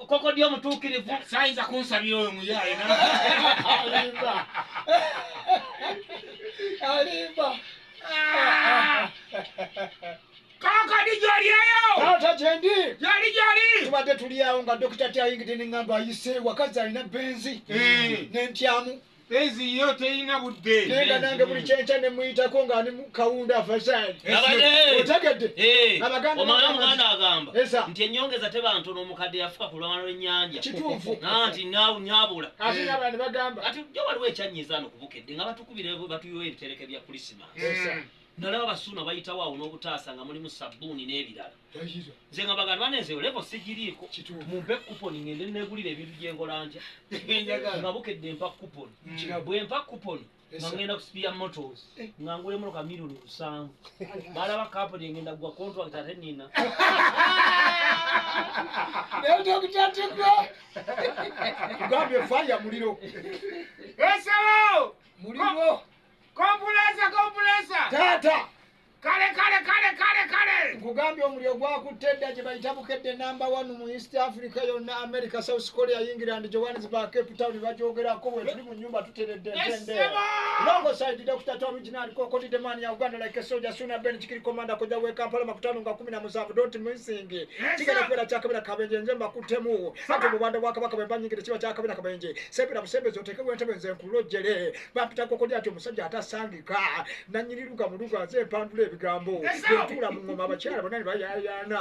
kokodya omutuukirivu sayinza kunsabira oyo muyaye alimba alimba kakadi gyolyayo taata gyendi gyoli gyoli tubadde tulyawo nga dokita tyayingidde ne ŋŋamba ayise wakazi alina benzi eh. nentyamu Penzi yo teyina budde. Genda nange buli kyenkya ne muyitako nga ali kawunda afashaali. Otegedde? Eh, Abaganda omwana omuganda agamba nti ennyongeza teba ntono omukadde yafuka ku lwana lw'ennyanja. Kituufu. Nanti naawu nyabula. Ate nga abantu bagamba. Ati jo waliwo ekyannyiza ano ku Bukedde nga batukubira batuyooyo ebitereke bya Kulisimaasi. Nalaba Abasuuna bayitawo awo n'obutaasa nga mulimu ssabbuuni n'ebirala. Nze nga bagamba bana ezo levo sigiriiko mumpe kuponi ngende neegulira ebintu gye nkola ntya nga bukedde mpa kuponi mm. bwe mpa kuponi nga ngenda ku sipiya motos eh. nga ngula emotoka milioni lusanvu balaba kaponi engenda kugwa contract ate nina gambye faya muliro esalo muliro Kompulesa, kompulesa. Taata. Kale kale kale kale kale. Nkugambye omuliro gwakutte edda gye bayita bukedde namba wanu mu East Africa yonna America, South Korea, England, Johannesburg, Cape Town bagyogerako we tuli mu nnyumba tuteredde ntende. Longo side Dr. Tom Original Kokoti the man ya Uganda like a soldier sooner Ben Chikiri Commander koja we Kampala makutano nga 17 don't missing. Kigera kwera cha kabira kabenje nze mbakutemu. Ate mu banda bwa kabaka bwe banyigire kiba cha kabira kabenje. Sebira busembeze oteke wentebe nze nkulojere. bampita kokodi ati omusajja atasangika nanyini luga muluga nze mpandula ebigambo etula mungoma abakyala bona nebayayaana